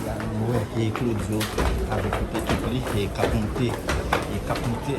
La nou wè e Claudio avèk tout ekip li e kap moute, e kap moute.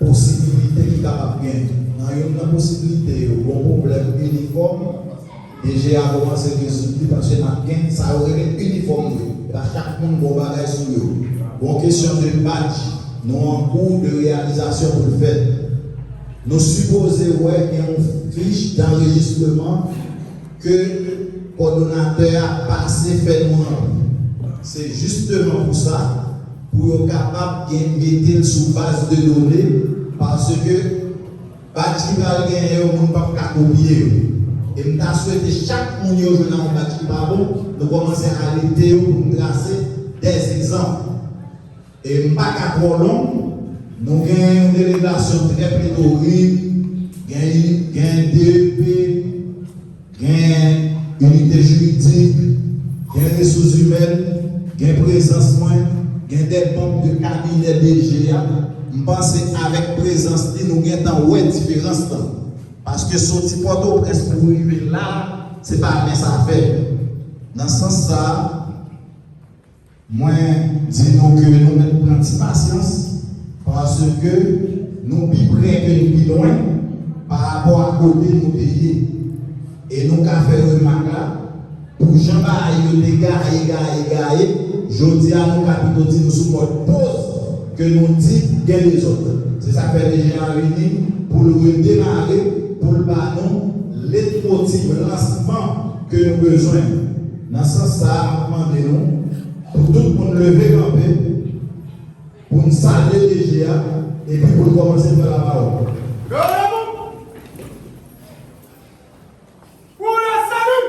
Posibilite ki kapab gen. Nan youn nan posibilite yo, gon pwoblèm inifòm. DG a komanse gen sou li paske nap gen sa yo rele inifòm vre epa chak moun gon bagay sou yo gon kesyon de badj nou an kou de reyalizasyon poul fèt nou sipoze wè gen yon fich danrejistreman ke kòdonatè a pase fè nou ranpli se jisteman pou sa pou yo kapab gen metel sou baz de done paske. Badge ki pral genyen yo moun pap ka kopye yo e m ta swete chak moun yo jwenn ak yon badge ki pa bon nou kòmanse arete yo pou n trase dè egzanp e m pa ka twò long nou gen yon delegasyon trè pletorik gen gen depi Gen inite jiridik, gen resous imèn, gen prezans mwen, gen 2 manm de kabinè DG a, m panse avèk prezans li nou gentan wè diferans lan. Paske soti Pòtoprens pou rive la a, se pa mens afè. Nan sans sa a. Mwen di nou ke nou mèt pran ti pasyans paske nou pi pre ke nou pi lwen pa rapò a kote nou te ye. E nou ka fè remak la, pou jan bagay yo te gaye, gaye, gaye, jodi a nou ka pito di nou sou mòd poz ke nou di gen dezòd. Se sa k fè DG a vini pou l redemare, pou l ba nou letmotiv lansman ke nou bezwen. Nan sans sa a, m ap mande nou pou tout moun leve kanpe pou n salye DG a epi pou l kòmanse pran lapawòl. Leve kanpe pou lasalut!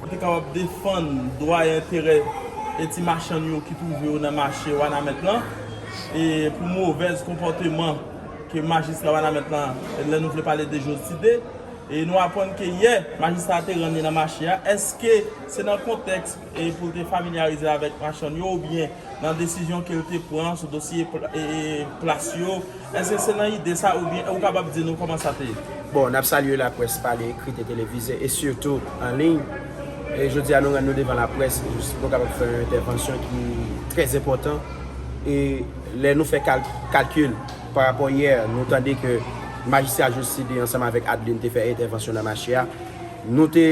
Pou te kapab defann dwa e enterè e ti machann yo ki twouve yo nan mache Wanament lan e pou movèz konpòteman ke majistra Wanament lan lè nou vle pale de Joside e nou apwann ke yè majistra te rann li nan mache a eske se nan kontèks e pou l te familyarize l avèk machann yo oubyen nan desizyon ke l te pran sou dosye plas yo, èske se nan ide sa oubyen ou kapab di nou kòman sa te ye? Bon, n ap salye laprès pale, ekrit e televize e sitou an liy. E jodi a nou rann nou devan laprès pou nou kapab fè yon entèvansyon ki trè enpòtan e lè nou fè kalkil pa rapò yè nou tande ke Majistra Joside ansanm avèk Adeline te fè entèvansyon nan mache a, Nou te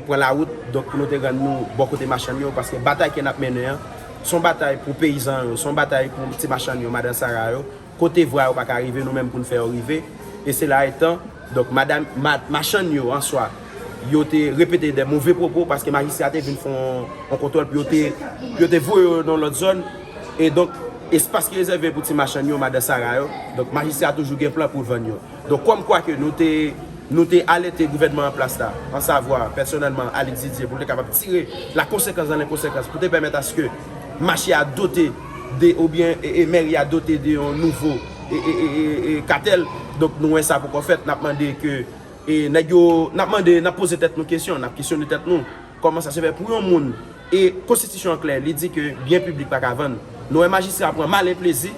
pran lawout donk pou nou te rann nou bò kote machann yo paske batay ke n ap mennen an se yon batay pou peyizan yo, se yon batay pou ti machann yo, madan sara yo, kote vwa yo pa ka rive nou menm pou n fè yo rive e sela etan donk madan machann yo an swa yo te repete de move pwopo paske majistra a te vin fè yon kontwòl pou yo te voye yo nan lòt zòn e donk espas ki rezève pou ti machann yo, madan sara yo donk majistra a toujou gen plan pou l vann yo. Donk kòm kwa ke nou te nou te alète gouvènman an plas la, an savwa, pèsonèlman, Alix Didier, pou l te kapab tire la konsekans dan le konsekans pou te pèmèt aske mache a dote de oubyen e mèri a dote de yon nouvo e e e katèl. Donk nou wè sa poko fèt, n ap mande ke e nèg yo, n ap mande, n ap poze tèt nou kesyon, n ap kesyone tèt nou. Kòman sa se fè pou yon moun e konstitisyon an klè li di ke byen piblik pa ka vann. Nou wè majistra a pran malen plezi,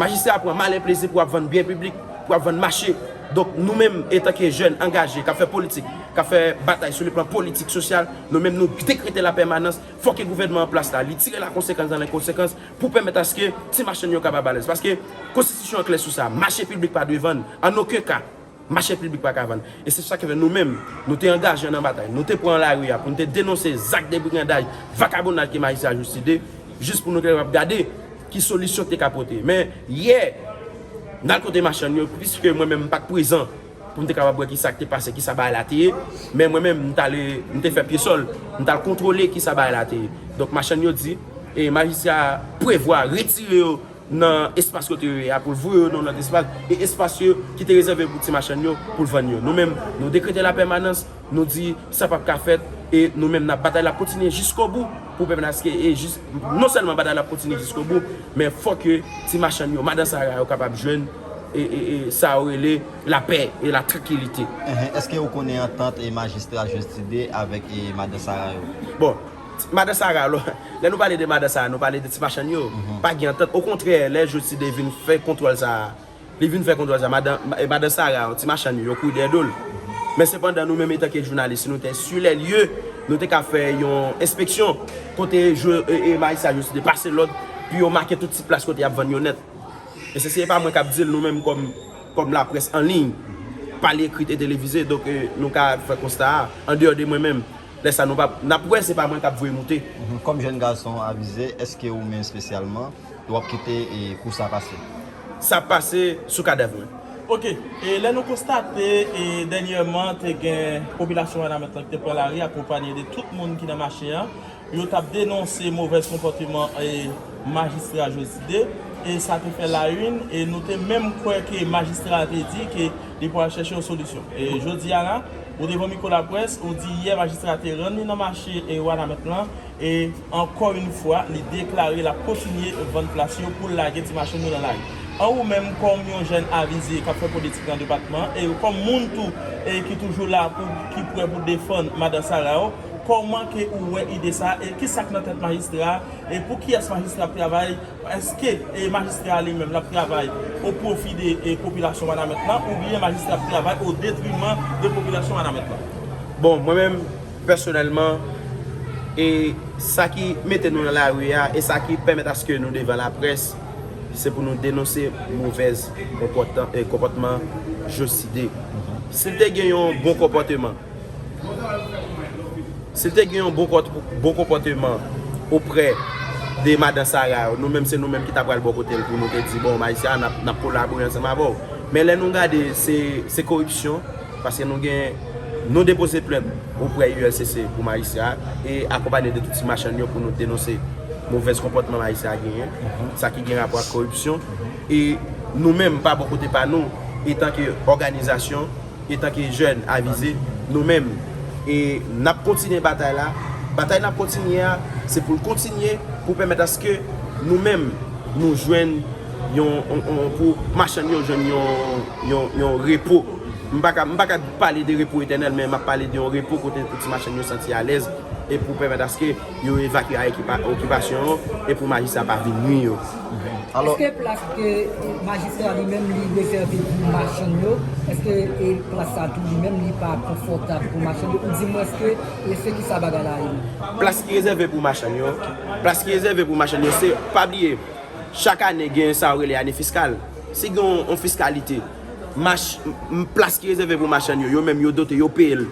majistra a pran malen plezi pou ap vann byen piblik, pou ap vann mache. Donk nou menm etan ke jèn angaje k ap fè politik, k ap fè batay sou le plan politik, sosyal, nou menm nou dekrete la pèmanans, fò ke gouvènman an plas la li tire la konsekans dan lè konsekans pou pèmèt aske ti machann yo kapab alèz. Paske konstitisyon an klè sou sa, mache piblik pa dwe vann an oken ka. Mache piblik pa ka vann. E se sa ki fè nou menm, nou te angaje nan batay, nou te pran lari a pou nou te denonse zak debrigandaj, vakabonaj ke majistra a jistifye, jis pou nou te kapab gade ki solisyon te ka pote. Men, yè, nan al kote machann yo, piske mwen menm m pat prezan pou m te kapab wè ki sa ki te pase, ki sa bagay la te ye, men mwen menm m t ale, m te fè pyesòl, m t al kontwole ki sa bagay la te ye. Donk machann yo di, e majistra a prevwa retire yo nan espas kote yo ye a pou l voye yo nan yon lòt espas e espas yo ki te rezève pou ti machann yo pou l vann yo. Nou menm, nou dekrete lapèmanans, nou di sa pap ka fèt e nou menm nap batay l ap kontinye jiskobou pou pèmèt aske e jis non sèlman batay la ap kontinye jiskobou men fò ke ti machann yo madan sara yo kapab jwenn e sa yo rele lapè e latrankilite. Èske ou konnen antant e majistra Josty 2 avèk e madan sara yo? Bon. Madan Sara alò, lè nou pale de Madan Sara nou pale de ti machann yo, pa gen antant, okontrè lè Joside vin fè kontwòl sa a, li vin fè kontwòl sa a, madan, madan Sara, ti machann yo, yo kouri dèyè do l. Men sepandan nou menm etanke jounalis si nou te sur les lieux, nou te ka fè yon enspeksyon kote jo, e, majistra Joside pase lòd pou yo make tout ti plas kote y ap vann yo nèt. E sesi e pa mwen k ap di l, nou menm kòm, kòm laprès anliy, pa l ekrit e televize, donk nou ka fè konsta a, andeyò de mwen menm, Lè sa nou pa n ap wè se pa mwen k ap voye moute. Kòm jèn gason avize, èske ou menm espesyalman, ou ap kite kou sa pase? Sa ap pase sou kadèv mwen. Ok. E lè nou konstate e dènyèman te gen popilasyon Wanament lan ki te pran lari akonpanye de tout moun ki nan mache an, yo t ap denonse movèz konpòteman e majistra Jozide e sa te fè la yn e nou te menm kwè ke majistra a te di ke li pwal chèche yon solisyon. E jodi a la, Ou devan mikwo laprès, ou di yè majistra te rann li nan mache Wanament lan e ankò yn fwa li deklare lap kontinye vann plas yo poul lage ti machann yo nan lari. An ou menm kòm yon jèn avize kap fè politik nan depatman an e kòm moun tou e ki toujou la pou ki prè pou defann madan Sara ou, kòman ke ou wè ide sa e kisak nan tèt majistra e pou kiyès majistra ap travay Eske majistra a li menm l ap travay o pwofi de popilasyon Wanament lan oubyen majistra ap travay o detriman de popilasyon Wanament lan? Bon, mwen menm pèsonèlman, e sa ki mete nou nan lari a, e sa ki pèmèt aske nou devan laprès, se pou nou denonse movèz konpòtman Joside. Si l te gen yon bon konpòteman. Sil te gen yon bon konpòteman oprè de madan Sara yo, nou menm se nou menm ki ta pral bò kotel pou nou te di bon mayi Sara nap kolabore ansanm avèw. Men lè nou gade se koripsyon paske nou gen nou depoze plent oprè ULCC pou mayi Sara e akonpanye de tout ti machann yo pou nou denonse movèz konpòtman mayi Sara genyen sa ki gen rapò ak koripsyon e nou menm pa bò kote pa nou etan ke òganizasyon. Etanke jèn avize, nou menm e n ap kontinye batay la. Batay n ap kontinye a, se pou l kontinye pou pèmèt aske nou menm nou jwenn yon, pou machann yo jwenn yon repo. M pa ka, m pa ka pale de repo etènèl men m ap pale de yon repo kote pou ti machann yo santi alèz e pou pèmèt aske. Yo evakye a ekip okipasyon yo e pou majistra pa vin nwi yo. Eske plas ke majistra li menm li rezève pou machann yo, eske e plas sa tou li menm li pa konfòtab pou machann yo ou di mwens ke e se kisa bagay la ye menm? Plas ki rezève pou machann yo, plas ki rezève pou machann yo se, pa bliye chak ane gen sa yo rele ane fiskal, si gen yon fiskalite, mach, plas ki rezève pou machann yo, yo menm yo dote, yo peye l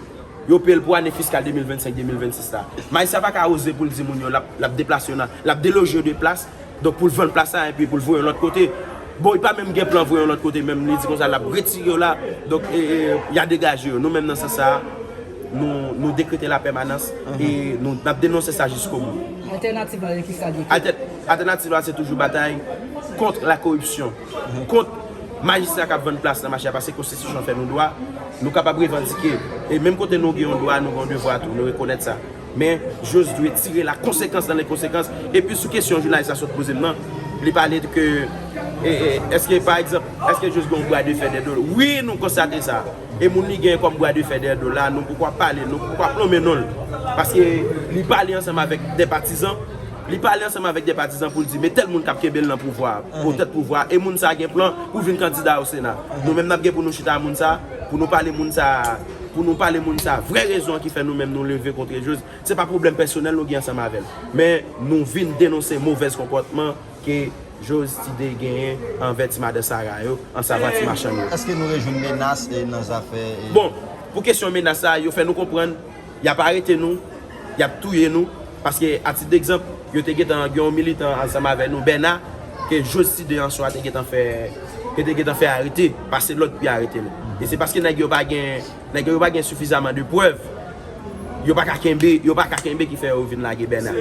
Yo peye l pou ane fiskal 2025, 2026 la. Majistra pa ka oze pou l di moun yo l ap deplase yo nan, l ap deloje yo de plas, donk pou l vann plas sa enpi pou l voye yo lòt kote. Bon, li pa menm gen plan voye yo lòt kote menm, li di kon sa l ap retire yo la, donk y a degaje yo. Nou menm nan sans sa a, nou dekrete lapèmanans e nou ap denonse sa jiskobou. Altènativ la, ki sa l dwe fè? Altènativ la se toujou batay kont lakoripsyon. kont majistra kap vann plas nan mache a paske konstitisyon an fè nou dwa nou kapab revandike e menm kote nou gen yon dwa nou gen yon devwa tou nou rekonèt sa men jose dwe tire la konsekans dan le konsekans epi sou kesyon jounalis la sot poze m nan li pale de ke eske pa egzanp eske jose gen yon bwa de fè dè do l wi nou konstate sa e moun li gen kòm bwa de fè dè do l la nou poukwa pale nou poukwa plonmen non l paske li pale ansanm avèk de patizan. Li pale ansanm avèk 2 patizan pou l di, Metel moun kap kenbe l nan pouvwa a, pou tèt pouvwa a, e moun sa gen plan pou vin kandida o sena. Nou menm nap gen pou nou chita a moun sa, pou nou pale moun sa, pou nou pale moun sa vrè rezon an ki fè nou menm nou leve kontre Jose. Se pa pwoblèm pèsonèl nou gen ansanm avè l, men nou vin denonse movèz konpòtman ke Jose Tide genyen anvè ti madan Sara yo, ansavan ti machann yo. Eske nou rejwenn menas nan zafè. Bon, pou kesyon menas sa, yo fè nou konprann. Yap arete nou, yap touye nou, paske a tit degzanp, yo te gentan gen yon militan ansanm avè nou, Bèna, ke Josty de Answa te gentan fè, yo te gentan fè arete, pase lòd pou yo arete nou. E se paske nèg yo pa gen, nèg yo yo pa gen sifizaman de prèv, yo pa ka kenbe, yo pa ka kenbe ki fè yo vin lage Bèna.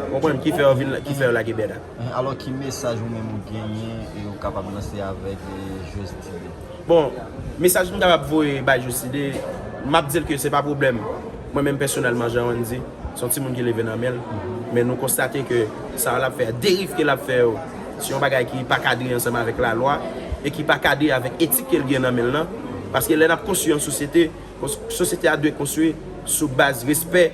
Ou konprann, ki fè yo vin, ki fè yo lage Bèna. Alò ki mesaj ou menm ou genyen e ou kapab lanse avèk Josty de. Bon, mesaj m kapab voye bay Joside, m ap di l ke se pa pwoblèm. Mwen menm pèsonèlman, jan Wendy, se yon timoun ki leve nan men l. Men nou konstate ke sa l ap fè a, deriv ke l ap fè yo, se yon bagay ki pa kadre ansanm avèk lalwa e ki pa kadre avèk etik ke l gen nan men l lan. Paske lè n ap konstwi yon sosyete, Sosyete a dwe konstwi sou baz respè,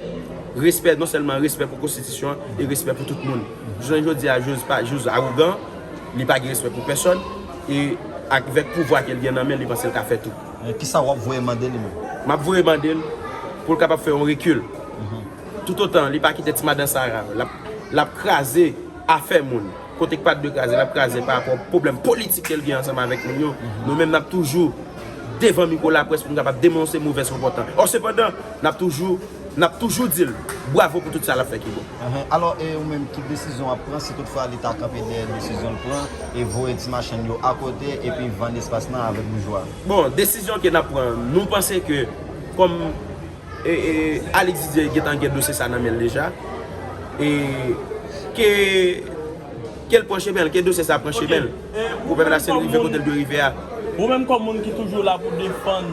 respè non sèlman respè pou konstitisyon an e respè pou tout moun. Jounen jodi a Jose pa Jose arogan, li pa gen respè pou pèsòn e ak vèk pouvwa ke li gen nan men li panse li ka fè tou. Men kisa wap voye mande li menm? Map voye mande l pou l kapab fè yon rekil. Tout otan li pa kite ti madan sa lap kraze afè moun. Kote k pat dwe kraze l ap kraze pa rapò pwoblèm politik ke l gen ansanm avèk moun yo. Nou menm n ap toujou devan mikwo laprès pou n kapab denonse movèz konpòtan. Ò sepandan, n ap toujou n ap toujou di l bwavo pou tout sa l ap fè ki bon. Alò e ou menm ki desizyon w ap pran si tout fwa li ta kanpe dèyè desizyon l pran e voye ti machann yo akote epi vann espas nan avèk boujwa? Bon, desizyon ke n ap pran, nou panse ke kòm. Alix Didier gentan gen dosye sa nan menl deja e ke kel pran chemenl, ke dosye sa pran chemenl pou pèp la sil rive kotel dwe rive a. Ou menm kòm moun ki toujou la pou defann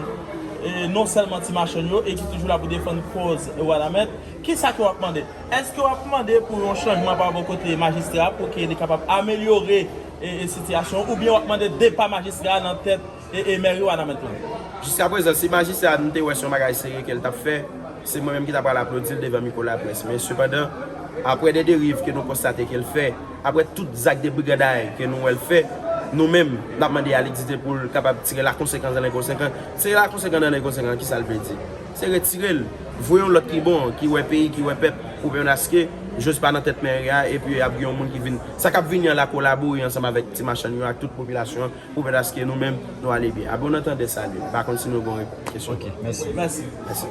non sèlman ti machann yo e ki toujou la pou defann kòz Wanament, kisa ke wap mande? Eske wap mande pou yon chanjman pa bò kote majistra pou ke li kapab amelyore sitiyasyon oubyen wap mande depa majistra nan tèt E e mère wanament lan. Jiska prezan si majistra a nou te wè son bagay serye kel tap fè, se mwen menm ki ta pral aplodil devan mikwo laprès men sepandan aprè de deriv ke nou konstate kel fè, aprè tout zak de briganday ke nou wèl fè, nou menm nap mande a li dite poul kapab tire la konsekans dan le konsekan, tire la konsekan dan le konsekan kisal vle di? Se retirel, voye yon lòt ki bon ki wè peyi ki wè pèp pou penaske jòj pa nan tèt mère a epi ap gen yon moun ki vin sa kap vini an la kolabore ansanm avèk ti machann yo ak tout popilasyon an Pwofèt aske nou menm nou ale byen. Abe w nan tandè salye. M pa konn si nou bon repons kesyon. Ok mèsi. Mèsi. Mèsi.